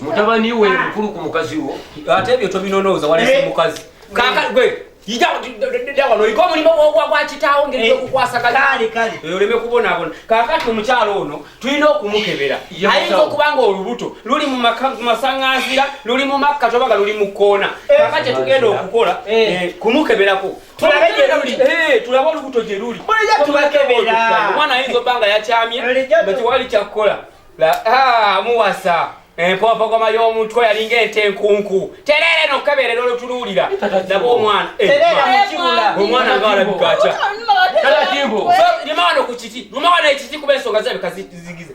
mutabani we mukulu ku mukazi wo ate ebyo tobinonooza walese eh. mukazi ijawanoyika omulimu gwakitaawo ngeri yokukwasagalaoleme eh. eh, kubonabona kakati omukyalo ono tulina okumukebera ayinza okuba nga olubuto luli mumasaŋanzira luli mumakka tobaga luli mukkoona kakati kyetugenda okukola kumukeberako tulabe gye luli eh, tulabe olubuto gye luli bulijjo tubakebera omwana ayinza obba nga yakyamye nga tewali kyakukola ah, muwasa empompogoma eh, y'omutwe yalinga ente enkunku tereere nokukeberera olutuluwulira naba omwana eh, omwana nga alabika atya lima wano ku kiti luma wano ekiti kuba ensonga zebika zigize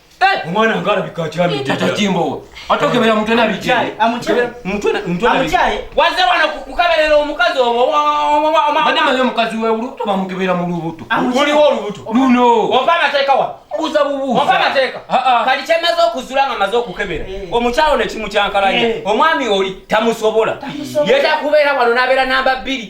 Omwana nga alabika akyamidde. Tata Jimbo. Ate okebera mutwe na biki? Amukyaye. Mutwe mutwe na biki? Waze wano kukaberera omukazi obo. Bana mayo omukazi we ulu to bamukebera mu lubuto. Muli wo lubuto. Luno. Ofa mateka wa. Buza bubu. Ofa mateka. Kali chemazo okuzula nga mazo okukebera. Eh. Omukyalo ne kimu kyankalanya. Eh. Omwami oli tamusobola. Yeta kubera wano nabera namba 2.